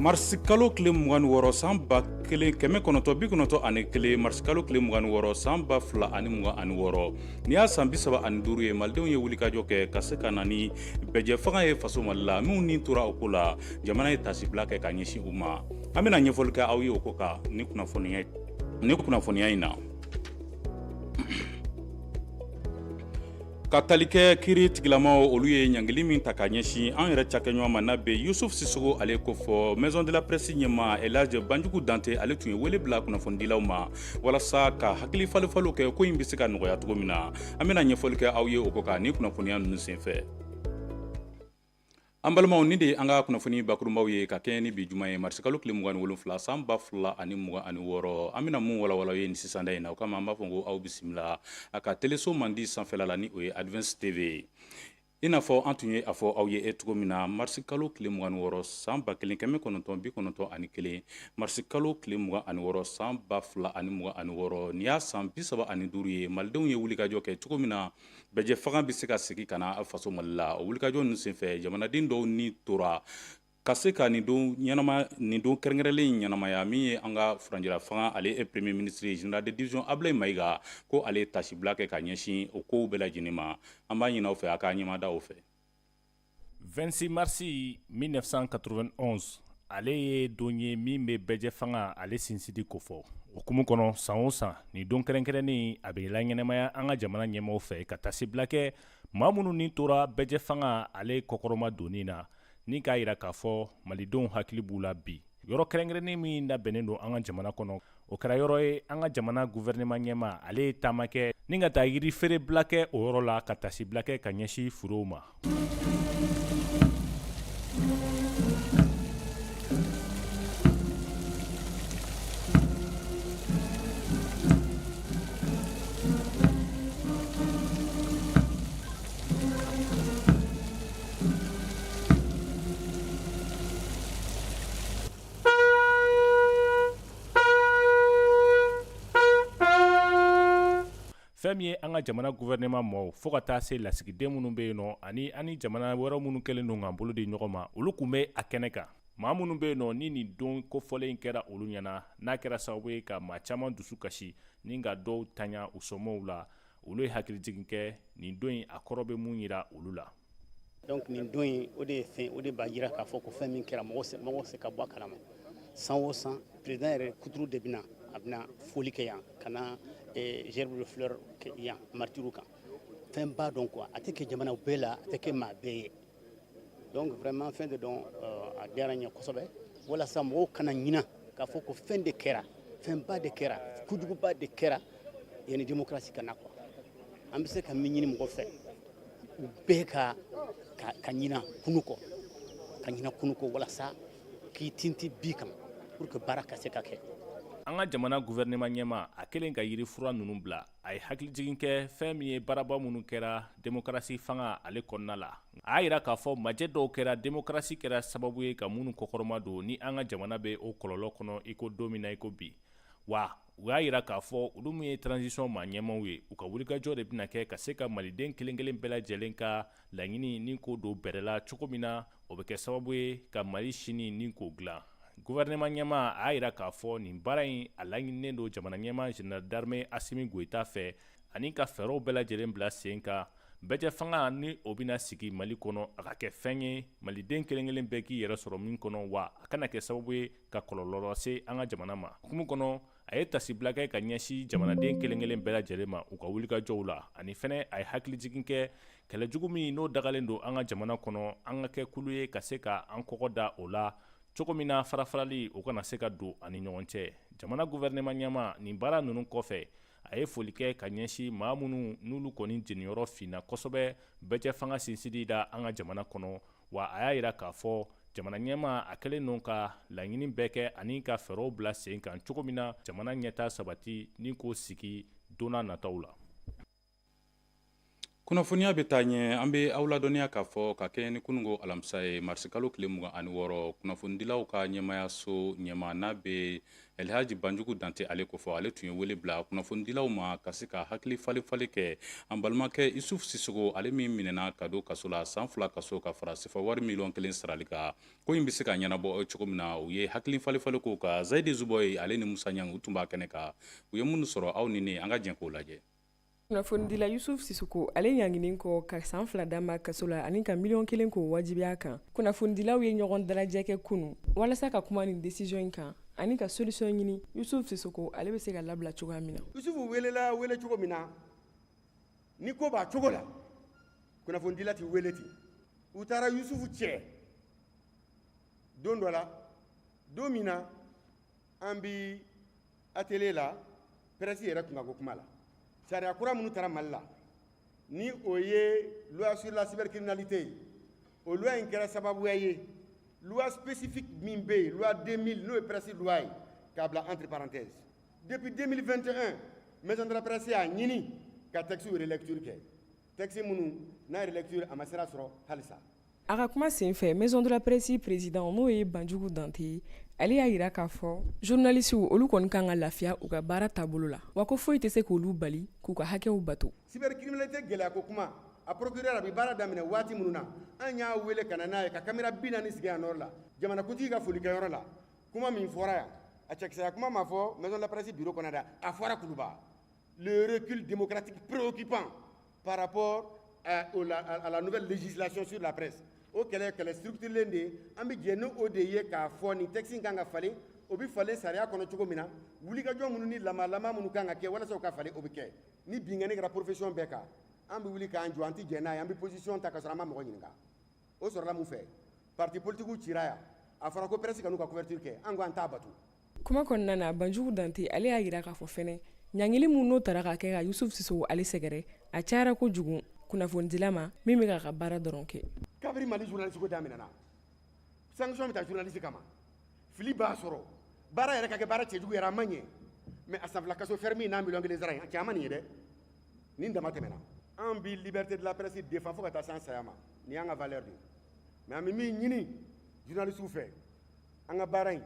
marisikalo tile mugan ni wɔɔrɔ san ba kelen kɛmɛ kɔnɔntɔn bi kɔnɔntɔn ani kelen marisikalo tile mugan ni wɔɔrɔ san ba fila ani mugan ani wɔɔrɔ ni y'a san bisaba ani duuru ye malidenw ye wulikajɔ kɛ ka se ka na ni bɛɛjɛ fanga ye faso mali la minnu ni tora o ko la jamana ye tasibila kɛ ka ɲɛsin u ma an bɛna ɲɛfɔli kɛ aw ye o ko kan ni kunnafoniya in na ka tali kɛ kiiri tigilamaw olu ye ɲangili min ta ka ɲɛsin an yɛrɛ cakɛɲɔgɔn ma n'a bɛ yusuf sisoko ale kofɔ maison de la presse ɲɛmaa elhadji banjugu dante ale tun ye wele bila kunnafonidilaw ma walasa ka hakili falenfalenw kɛ ko in bɛ se ka nɔgɔya cogo min na an bɛna ɲɛfɔli kɛ aw ye o ko kan ni kunnafoniya ninnu senfɛ An balimaw ni de an ka kunnafoni bakurunbaw ye ka kɛɲɛ ni bi juma ye marisikalo tile mugan ni wolonwula san ba fila ani mugan ani wɔɔrɔ an bɛna minnu walawala ye nin sisan in na o kama an b'a fɔ ko aw bisimila a ka teleso mandi sanfɛla la ni o ye Advance TV i n'a fɔ an tun ye a fɔ aw ye cogo min na marisikalo tile mugan ni wɔɔrɔ san ba kelen kɛmɛ kɔnɔntɔn bi kɔnɔntɔn ani kelen marisikalo tile mugan ani wɔɔrɔ san ba fila ani mugan ani wɔɔrɔ ni y'a san bi saba ani duuru ye malidenw ye wulikajɔ kɛ cogo min na Bɛɛjɛ fanga bɛ se ka segin ka na faso mali la o wulikajɔ ninnu senfɛ jamanaden dɔw ni tora ka se ka nin don ɲɛnama nin don kɛrɛnkɛrɛnlen in ɲɛnamaya min ye an ka furancɛla fanga ale ye premier ministre général de division Ablaye Mayiga ko ale tasibila kɛ ka ɲɛsin o kow bɛɛ lajɛlen ma an b'a ɲini aw fɛ a k'a ɲɛmada o fɛ 26 marisi 1991 ale ye don ye min bɛ bɛɛjɛ fanga ale sinsidi kofɔ o hukumu kɔnɔ san o san ni don kɛrɛnkɛrɛnnen a bɛ laɲɛnamaya an ka jamana ɲɛmɔgɔ fɛ ka tasibila kɛ maa minnu ni tora bɛɛjɛ fanga ale kɔkɔrɔmadonni na ni k'a yira k'a fɔ malidenw hakili b'u la bi yɔrɔ kɛrɛnkɛrɛnnen min labɛnnen don an ka jamana kɔnɔ o kɛra yɔrɔ ye an ka jamana gouvernement ɲɛmaa ale ye taama kɛ ni ka taa yiri feere bila kɛ o yɔrɔ la ka tasibila kɛ ka ɲɛsin furew ma fɛn min ye an ka jamana gouvernement mɔɔw fo ka taa se lasigiden minnu bɛ yen nɔ ani an ni jamana wɛrɛ minnu kɛlen don k'an bolo di ɲɔgɔn ma olu tun bɛ a kɛnɛ kan maa minnu bɛ yen nɔ ni nin don kofɔlen in kɛra olu ɲɛna n'a kɛra sababu ye ka maa caman dusu kasi ni ka dɔw tanya u somɔɔw la olu ye hakilijigin kɛ nin don in a kɔrɔ bɛ mun yira olu la donc nin don in o de ye fɛn o de b'a yira k'a fɔ ko fɛn min kɛra mɔgɔ se ka bɔ a kalama san o san président yɛrɛ kuturu de bɛna a bɛna foli kɛ yan ka na eh, gerbe de fleur yan maritiriw kan fɛn b'a dɔn quoi a tɛ kɛ jamana bɛɛ la a tɛ kɛ maa bɛɛ ye donc vraiment fɛn de don a diyara n ye kosɛbɛ walasa mɔgɔw kana ɲina k'a fɔ ko fɛn de kɛra fɛnba de kɛra kojuguba de kɛra yanni démocratie ka na quoi an bɛ se ka min ɲini mɔgɔ fɛ u bɛɛ ka ka ɲina kunu kɔ ka ɲina kunu kɔ walasa k'i tinti bi kan pour que baara ka se ka kɛ an ka jamana gouvernement ɲɛma a kɛlen ka yiri fura ninnu bila a ye hakilijigin kɛ fɛn min ye baaraba minnu kɛra demokarasi fanga ale kɔnɔna la a y'a yira k'a fɔ majɛ dɔw kɛra demokarasi kɛra sababu ye ka minnu kɔkɔrɔma don ni an ka jamana bɛ o kɔlɔlɔ kɔnɔ iko don min na iko bi wa u y'a yira k'a fɔ olu min ye transition maa ɲɛmaw ye u ka wulikajɔ de bɛna kɛ ka se ka maliden kelenkelen bɛɛ lajɛlen ka laɲini nin k'o don bɛrɛ la cogo min na o bɛ kɛ sababu ye ka mali sini nin k'o dilan gouvernement ɲɛma a y'a yira k'a fɔ nin baara in a laɲininen don jamana ɲɛma général d'armée asimi goyita fɛ ani ka fɛɛrɛw bɛɛ lajɛlen bila sen kan bɛɛjɛ fanga ni o bɛna sigi mali kɔnɔ a ka kɛ fɛn ye maliden kelenkelen bɛɛ k'i yɛrɛ sɔrɔ min kɔnɔ wa a kana kɛ sababu ye ka kɔlɔlɔ lase an ka jamana ma hukumu kɔnɔ a ye tasibila kɛ ka ɲɛsin jamanaden kelen-kelen bɛɛ lajɛlen ma u ka wulikajɔw la ani fɛnɛ a ye hakilijigin kɛ kɛlɛ jugu min n'o dagalen don an ka jamana kɔnɔ an ka kɛ kulu ye ka se ka an kɔgɔ da o la cogo min na farafarali o kana se ka don an ni ɲɔgɔn cɛ jamana guvɛrɛnɛma ɲɛma nin baara ninnu kɔfɛ a ye foli kɛ ka ɲɛsin maa minnu n'olu kɔni jeniyɔrɔ finna kosɛbɛ bɛɛjɛ fanga sinsinni na an ka jamana kɔnɔ wa a y'a yira k'a fɔ jamana ɲɛma a kɛlen don ka laɲini bɛɛ kɛ ani ka fɛɛrɛw bila sen kan cogo min na jamana ɲɛta sabati nin k'o sigi don nataw la kunnafoniya bɛ taa ɲɛ an bɛ aw ladɔnniya k'a fɔ ka kɛɲɛ ni kununko alamisa ye marisikalo tile mugan ani wɔɔrɔ kunnafonidilaw ka ɲɛmayaso ɲɛma n'a bɛ Elihaji banjugu dantɛ ale kofɔ ale tun ye wele bila kunnafonidilaw ma ka se ka hakili falenfalen kɛ an balimakɛ yusufu sisoko ale min minɛna ka don kaso la san fila kaso ka fara sefawari miliyɔn kelen sarali kan ko in bɛ se ka ɲɛnabɔ cogo min na u ye hakili falenfalen k'o kan zayidi zubɔyi ale ni musa ɲangi u tun b'a kɛnɛ kan u ye minnu sɔrɔ aw ni ne an ka jɛ k'o lajɛ kunnafonidila yusufu sisoko ale ɲanginen kɔ ka san fila d'a ma kaso la ani ka miliyɔn kelen k'o wajibiya a kan kunnafonidilaw ye ɲɔgɔn dalajɛ kɛ kunu walasa ka kuma nin desiziyɔn in kan ani ka solisiyɔn ɲini yusufu sisoko ale bɛ se ka labila cogoya min na yusufu welela wele cogo min na ni ko b'a cogo la kunnafonidila tɛ wele ten u taara yusufu cɛ don dɔ la don min na an bi atelier la presse yɛrɛ kunkanko kuma la sariya kura minnu tara mali la ni o ye loi sur la cybercriminalité o loi in kɛra sababuya ye loi spécifique min bɛ yen loi 2000 n'o ye presse loi ye k'a bila entre parenthèse depuis 2021 maison de la presse y'a ɲini ka texte relecture kɛ texte minnu n'a relecture a ma sira sɔrɔ halisa A ka kuma senfɛ maison de la presse président n'o ye Banjugu Dante ye, ale y'a jira k'a fɔ journalistes olu kɔni ka kan ka lafiya u ka baara taabolo la, wa ko foyi tɛ se k'olu bali k'u ka hakɛw bato. Cybercriminalité gɛlɛya ko kuma, a procureur a bɛ baara daminɛ waati minnu na, an y'a wele ka na n'a ye ka caméra 40 sigi a nɔɔrɔ la, jamanakuntigi ka folikɛyɔrɔ la, kuma min fɔra yan, a cɛkisɛya kuma ma fɔ maison de la presse bureau kɔnɔ dɛ, a fɔra Kuluba, le recul démocratique préoccupant par rapport à, au, la, à la nouvelle législation sur la presse o kɛlɛ kɛlɛ structurelen de ye an bɛ jɛn ni o de ye k'a fɔ ni texte in kan ka falen o bɛ falen sariya kɔnɔ cogo min na wulikajɔ minnu ni lamalama minnu kan ka kɛ walasa o ka falen o bɛ kɛ ni binkanni kɛra profession bɛɛ kan an bɛ wuli k'an jɔ an tɛ jɛn n'a ye an bɛ position ta ka sɔrɔ an ma mɔgɔ ɲininka o sɔrɔla mun fɛ parti politikiw cira yan a fɔra ko presse kan'u ka couverture kɛ an ko an t'a bato kuma kɔnɔna na banjugu dante ale y'a jira k'a fɔ fɛnɛ ɲangili min n'o tara ka kɛ ka yusuf sisogo ale sɛgɛrɛ a cayara kojugu kunnafonidila ma min bɛ k'a ka baara dɔrɔn kɛ kabiri mali journaliste ko daminɛna sanction bɛ ta journaliste kama fili b'a sɔrɔ baara yɛrɛ ka kɛ baara cɛjugu yɛrɛ a ma ɲɛ mais a san fila kaso ferme n'a miliyɔn kelen sara in a cɛ an ma nin ye dɛ nin dama tɛmɛna an bi liberté de la presse défend fo ka taa se an saya ma nin y'an ka valeur de ye mais an bɛ min ɲini journalisiw fɛ an ka baara in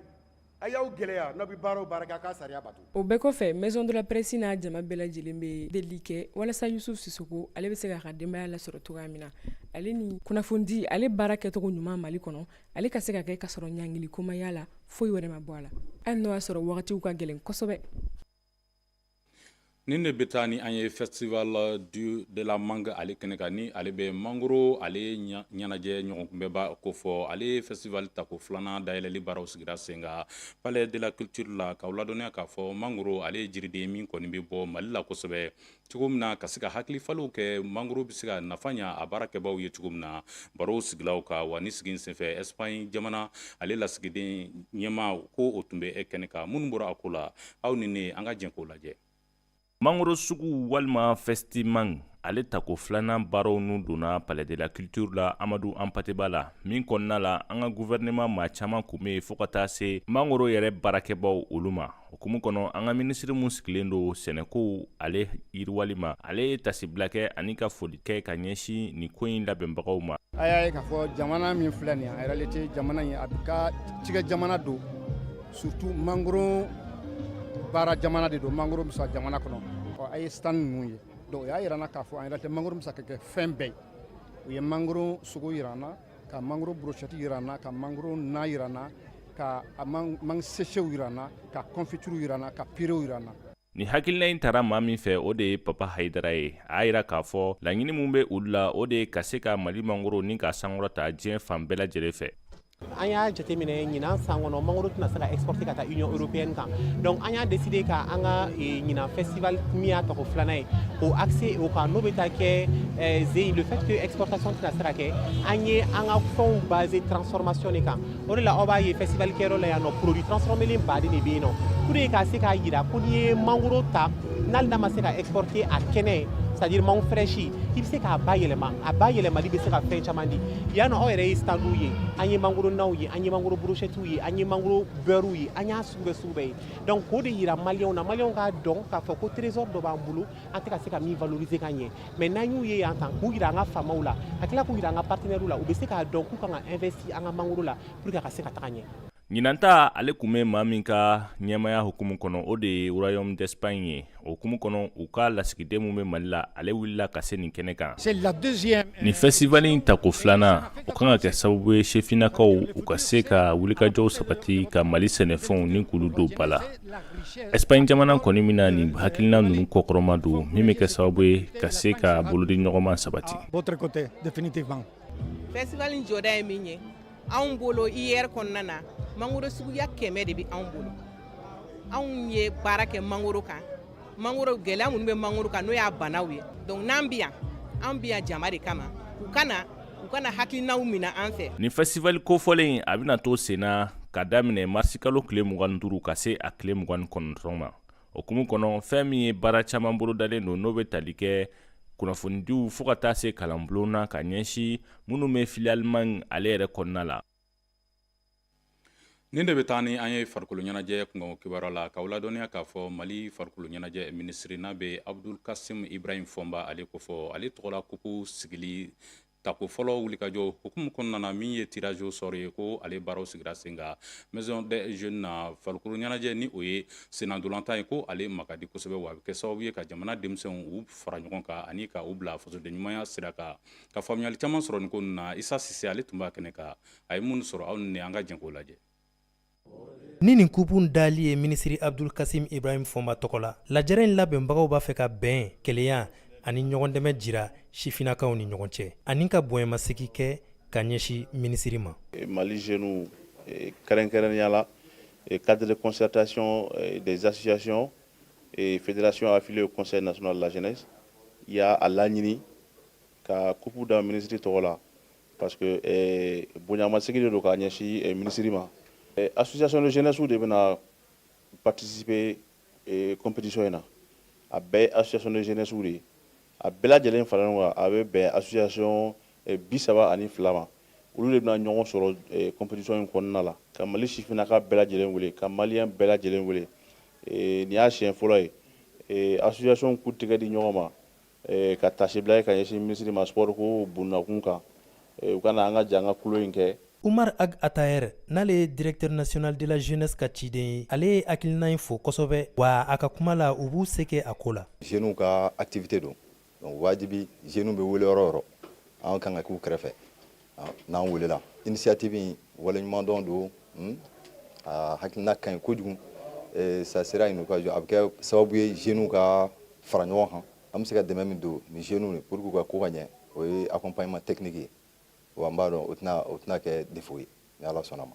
a y'aw gɛlɛya n'aw bɛ baara o baara kɛ a k'a sariya bato o bɛɛ kɔfɛ maison de la presse n'a jama bɛɛ lajɛlen bɛ delili kɛ walasa yusuf sisoko ale bɛ se k'a ka denbaya lasɔrɔ cogoya min na ale ni kunnafonidi ale baara kɛcogo ɲuman mali kɔnɔ ale ka se ka kɛ ka sɔrɔ ɲangili ko ma y'a la foyi wɛrɛ ma bɔ a la hali n'o y'a sɔrɔ wagatiw ka gɛlɛn kosɛbɛ Nin de bɛ taa ni an ye festival du de la mangue ale kɛnɛ kan ni ale bɛ mangoro ale ɲɛnajɛ ɲɔgɔnkunbɛnba kofɔ ale ye festival tako filanan dayɛlɛli baaraw sigira sen kan palais de la culture la k'aw ladɔnniya k'a fɔ mangoro ale ye jiriden min kɔni bɛ bɔ mali la kosɛbɛ cogo min na ka se ka hakili falenw kɛ mangoro bɛ se ka nafa ɲɛ a baarakɛbaw ye cogo min na barow sigila o kan wa nin sigi in senfɛ Espagne jamana ale lasigiden ɲɛmaa ko o tun bɛ e kɛnɛ kan minnu bɔra a ko la aw ni ne an ka jɛn k'o lajɛ mangoro sugu walima festi mangue ale tako filanan baaraw nu donna palais de la culture la amadu hanpate ba la min kɔnɔna la an ka gouvernement maa caaman kun be fo ka taa se mangoro yɛrɛ baarakɛbaw olu ma o hukumu kɔnɔ an ka minisiri min sigilen don sɛnɛkow ale yiriwali ma ale ye tasibila kɛ ani ka foli kɛ ka ɲɛsin nin ko in labɛnbagaw ma a y'a ye k'a fɔ jamana min filɛ nin ye en réalité jamana in a ka cikɛ jamana don surtout mangoro baara jamana de don mangoro bɛ sɔrɔ jamana kɔnɔ ɔ a ye stand ninnu ye donc o y'a yira an na k'a fɔ en réalité mangoro bɛ se ka kɛ fɛn bɛɛ ye u ye mangoro sogo yira an na ka mangoro brochette yira an na ka mangoro na yira an na ka mangue séchéw yira an na ka confiture yira an na ka puréew yira an na Ni hakilina in tara maa min fɛ o de ye papa hayidara ye a y'a yira k'a fɔ laɲini min bɛ olu la o de ye ka se ka mali mangoro nin k'a sankɔrɔta diɲɛ fan bɛɛ lajɛlen fɛ an y'a jateminɛ ɲinan san kɔnɔ mangoro tɛna se ka exporté ka taa union européenne kan donc an y'a décidé ka an ka ɲinan festival min y'a tɔgɔ filanan ye o axé o kan n'o bɛ taa kɛ c'est le fait que exportation tɛna se ka kɛ an ye an ka fɛnw basé transformation de kan o de la aw b'a ye festival kɛyɔrɔ la yan nɔ produit transformélen baden de bɛ yen nɔ pour que ka se k'a yira ko n'i ye mangoro ta n'ale n'a ma se ka exporté a kɛnɛ c'est-à-dire mangue fraîche i bɛ se k'a bayɛlɛma a bayɛlɛmali bɛ se ka fɛn caman di yan nɔ aw yɛrɛ ye standw ye an ye mangoro naw ye an ye mangoro brochettew ye an ye mangoro beurrew ye an y'a sugu bɛɛ sugu bɛɛ ye donc k'o de yira maliyɛnw na maliyɛnw k'a dɔn k'a fɔ ko trésor dɔ b'an bolo an tɛ ka se ka min valoriser ka ɲɛ mais n'an y'u ye yan tan k'u yira an ka faamaw la ka tila k'u yira an ka partenaires la u bɛ se k'a dɔn k'u kan ka investir an ka mangoro la pour que a ka se ka taga ɲɛ ɲinanta ale kun bɛ maa min ka ɲɛmaya hukumu kɔnɔ o de ye royaume d'espagne ye o hukumu kɔnɔ u ka lasigiden min bɛ mali la ale wulila ka se nin kɛnɛ kan euh, nin festival in tako filanan o kan ka kɛ sababu ye sefinnakaw u ka se ka wulikajɔw sabati ka mali sɛnɛfɛnw nin k'olu don ba la espagne jamana kɔni bɛna nin hakilina ninnu kɔkɔrɔmadon min bɛ kɛ sababu ye ka se ka bolodi ɲɔgɔnma sabati festival jɔda ye min ye anw bolo IER kɔnɔna na mangoro suguya kɛmɛ de bɛ anw bolo anw ye baara kɛ mangoro kan mangoro gɛlɛya minnu bɛ mangoro kan n'o y'a banaw ye donc n'an bɛ yan an bɛ yan jama de kama u ka na u ka na hakilinaw minɛ an fɛ nin festival kofɔlen a bɛna to senna ka daminɛ marisikalo tile mugan ni duuru ka se a tile mugan ni kɔnɔntɔn ma o hukumu kɔnɔ fɛn min ye baara caman bolodalen don n'o be tali kɛ kunnafonidiw fo ka taa se kalanbulon na ka ɲɛsin minnu be filière mangue ale yɛrɛ kɔnɔna la nin de be taa ni an ye farikolo ɲɛnajɛ kunkanko kibaruya la k'aw ladɔnniya k'a fɔ mali farikolo ɲɛnajɛ minisiri n'a be abdul kasim ibrahim fɔnba ale kofɔ ale tɔgɔla kupu sigili tako fɔlɔ wulikajɔ hukumu kɔnɔna na min ye tirage au sort ye ko ale baaraw sigira sen kan maison des jeunes na farikolo ɲɛnajɛ ni o ye sennantolatan ye ko ale ma ka di kosɛbɛ wa a bɛ kɛ sababu ye ka jamana denmisɛnw u fara ɲɔgɔn kan ani ka u bila fasoden ɲumanya sira kan ka faamuyali caman sɔrɔ nin ko ninnu na isa sise ale tun b'a kɛnɛ kan a ye minnu sɔrɔ aw ni an ka jɛn k'o lajɛ ni nin kupu dali ye minisiri abdul kasim ibrahim fɔnba tɔgɔ la lajɛrɛ in labɛnbagaw b'a fɛ ka bɛn kelenya ani ɲɔgɔn dɛmɛ jira sifinnakaw ni ɲɔgɔn cɛ ani ka bonyamasegin kɛ ka ɲɛsin minisiri ma eh, mali jeunes eh, kɛrɛnkɛrɛnnenya la eh, cadre de concertation des associations et fédérations affiliées au conseil national de la jeunesse y'a a laɲini ka kupu da minisiri tɔgɔ la Parce que ɛɛ bonyamasegin de don k'a ɲɛsin ɛɛ minisiri ma. Ɛɛ association de jeunesse de bɛna participer ee compétition in na. A bɛɛ ye association de jeunesse de ye. A bɛɛ lajɛlen faralen ɲɔgɔn kan, a bɛ bɛn association 32 ma. Olu de bɛna ɲɔgɔn sɔrɔ ee compétition in kɔnɔna la. Ka Mali sifinnaka bɛɛ lajɛlen wele, ka malien bɛɛ lajɛlen wele. Ee nin y'a siɲɛ fɔlɔ ye ee association k'u tɛgɛ di ɲɔgɔn ma Ka taasibila ye ka ɲɛsin minisiri ma sport ko bɛ minnu kun kan u ka na an ka jɛ an ka tulon in kɛ Umar Ag Ataher n'ale ye directeur national de la jeunesse ka ciden ye ale ye hakilina in fo kosɛbɛ wa a ka kuma la u b'u se kɛ a ko la jeunes ka activité don donc wajibi jeunes bɛ wele yɔrɔ o yɔrɔ an ka kan ka k'u kɛrɛfɛ n'an welela initiative in waleɲumandɔn don hmm? a hakilina ka ɲi kojugu eh, ça sera une occasion a bɛ kɛ sababu ye jeunes ka fara ɲɔgɔn kan an bɛ se ka dɛmɛ min don ni jeunes ye pour que u ka ko ka ɲɛ o ye accompagnement technique ye wa n b'a dɔn o tɛna o tɛna kɛ défaut ye ni Ala sɔnna ma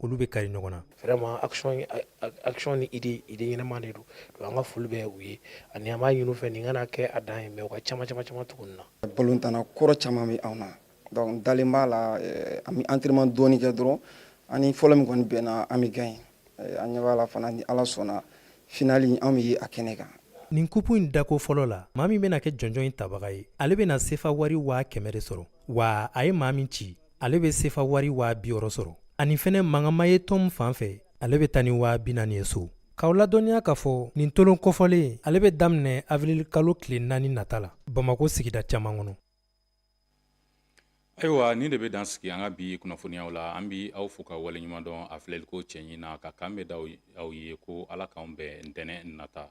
olu bɛ kari ɲɔgɔn na vraiment action action ni idée idée ɲɛnama de don donc an ka foli bɛ u ye ani an b'a ɲini u fɛ nin kana kɛ a dan ye mais u ka caman caman caman tugu nin na balontanna kɔrɔ caman bɛ anw na donc dalen b'a la eh, an bɛ entraînement dɔɔni kɛ dɔrɔn ani fɔlɔ min kɔni bɛnna an bɛ gagner eh, an ɲɛ b'a la fana ni ala sɔnna finale an bɛ ye a kɛnɛ kan nin kupu in dako fɔlɔ la maa min bɛna kɛ jɔnjɔn in tabaga ye ale bɛna sefa wari waa kɛmɛ de sɔrɔ wa a ye maa min ci ale bɛ sefa wari waa biwɔɔrɔ sɔrɔ ani fɛnɛ mangama ye tɔn fan fɛ ale bɛ taa ni waa binaani ye so k'aw ladɔnniya k'a fɔ nin tolon kofɔlen ale bɛ daminɛ avril kalo tile naani nata la bamako sigida caman kɔnɔ ayiwa nin de bɛ dan sigi an ka bi kunnafoniyaw la an b'aw fo ka waleɲuman dɔn a filɛli kocɛɲi na ka kanbɛn da aw ye ko ala k'anw bɛn ntɛnɛn nata